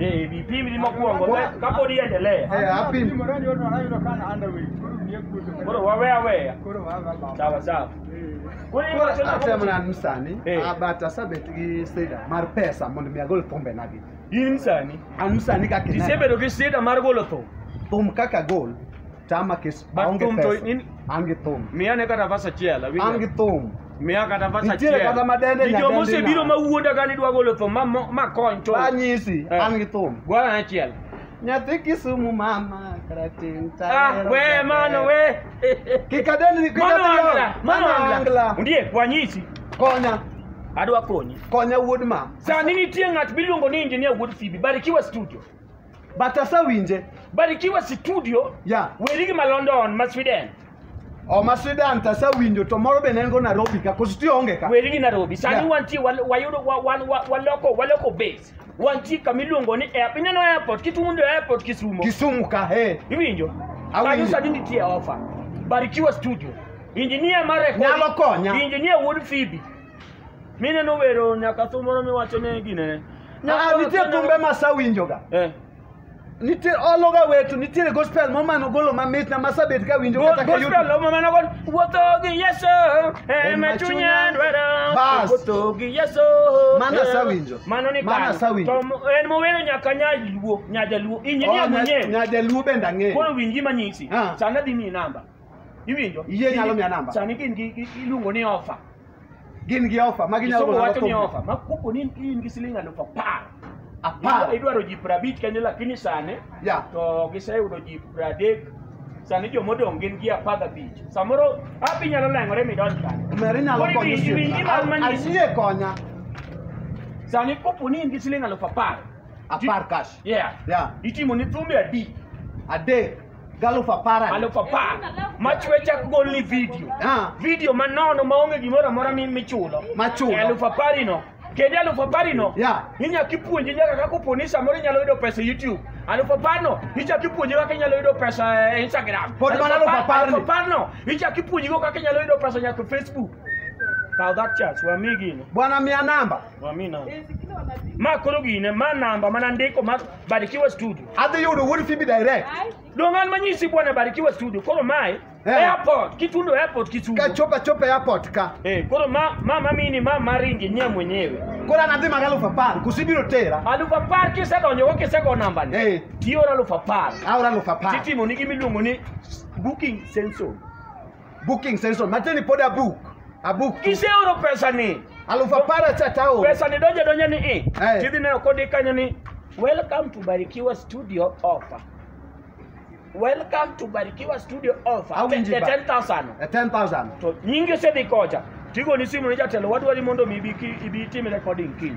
Eh, vipindi ni mokwongo ka- kapod iendelee Eh, apim. koro wawe aweya sawa sawa Koro Koro iwacho nang'o? atem nan msani Eh. ah, but asebet gi sida mar pesa mondo mi agol thumbe nagi in msani an msani kaka ineno. isebedo gi sida mar golo thum thum kaka gol tama kes But aonge thum to pesa in- an gi thum miyane kata vas achiel awinjo. an gi thum Miya kata verse Nitiere achiel. kata madende Ji joma nyadendi osebiro na. ma wuonda ka ni dwa golo thum ma mo- ma kony to. Anyisi, Eh. an gi thum. Gwara achiel. Nyathi Kisumu mama karatin Ah, we mano we. Kik adendi, kik Mano adendi. angla, mano Mano angla. Ndiye wanyisi Konya, adwa konyi. konya wuod ma. Sani nitie ng'at miluongo ni Engineer Wuod Phoebe, Barikiwa Studio. but asewinje Barikiwa Studio, ya werigi ma London, ma Sweden, oma Sweden to asewinjo to moro bende en go Nairobi ka koso ti onge ka werigi Nairobi. Sani Yeah. wantie wal- wayudo wa- wan- wa- waloko waloko base. Wantie kama iluongo ni airport. Ineno airport, Kitundo airport Kisumo. Kisumu ka he Iwinjo? Awinjo. Kanyo sani nitie offer. Barikiwa Studio. Engineer mar recording. Nyalo konya. Engineer Wuod Phoebe. Mineno wero nyaka thum moro miwacho ne ginene. Ah, nitie thumbe ma sawinjoga Eh. nitie ologa wetu nitiere gospel moro mano golo mamitna ma sabet ka winjo kata ka YouTube. Gospel ma mano gon wuotho gi Yesu e ma chunya dwaro. Bas. Wuotho gi Yesu. Mano asawinjo. Mano ni Mano kano. asawinjo. To mo- en mowero nyaka nyaluo, nyajaluo. Injinia Oh, nya- mwenyewe. nyajaluo bende ang'eyo Koro winji manyisi. Ah. Sana dhi miyi namba. Iwinjo? Iyie nyalo miya namba? Sani gin gi gi- iluongo ni offer. Gin gi ofa ma ginyalo Kisomo golo wacho ni thumbe. offer. Ma kopo ni in gi siling aluf apar. Apar. Idwa- Idwaro ji prabich kanyo lakini sani Ya. to giseyudo ji pradek. Sani jomodong' gin gi apar gabich. Samoro hapi nyalo leng'ore midonj kanyo. Omera inyalo Koro konyo iwinj- iwinj osiepna. gima mani- Ayie konya. Sani kopo ni in gi siling aluf apar. Apar cash. Yeah. Yeah. Itimo ni thumbe adi. Adek. Galo for parent. Alo papa, ma chwe chak golni video. Ah. Video manono maonge gimoro amora mi- michulo. Machulo. E Alufu apari no. Kendo alufu apari no. Yeah. Inya kipuonji nyaka kaka oponi samoro inyalo yudo pesa e YouTube. Alufu apar no. Icha kipuonji kaka inyalo yudo pesa e Instagram. Pod mana alufu apar ni. Alufu apar no. Icha kipuonji go kaka inyalo yudo pesa nyaka e Facebook. Kaw that chance, wamigi no. Bwana mia namba. Amina. Ma koro gine, ma namba mana ndiko mar Barikiwa Studio. Adhi yudo wuod Phoebe direct. Dong' an manyisi bwana Barikiwa Studio. Koro mae Eh. airport, Kitundo airport Kisumu. Kachopa chopa airport ka. Eh, koro ma ma mamini ma maringi nye mwenyewe. Koro an adhi mag alufu apar. Kusibiro tera. Alufu apar kisedonjo go kisego namba ni. Eh. Tiora alufu apar. Aora alufu apar. Titimo ni gimiluongo ni booking sensor. Booking session. Mateni pod abuk. Abuk. tu. Iseoro pesani. Aluf apar acha taoro. Pesani donje donje ni i. Eh. Tidhi neno kodi kanyo ni Welcome to Barikiwa Studio offer. Welcome to Barikiwa Studio offer. Awinji The ba. 10,000. Eh, 10,000. To nyingi osedhi kocha. Tigo ni simu ni jatelo wadwari mondo mi ibi ki- ibi tim recording kiny.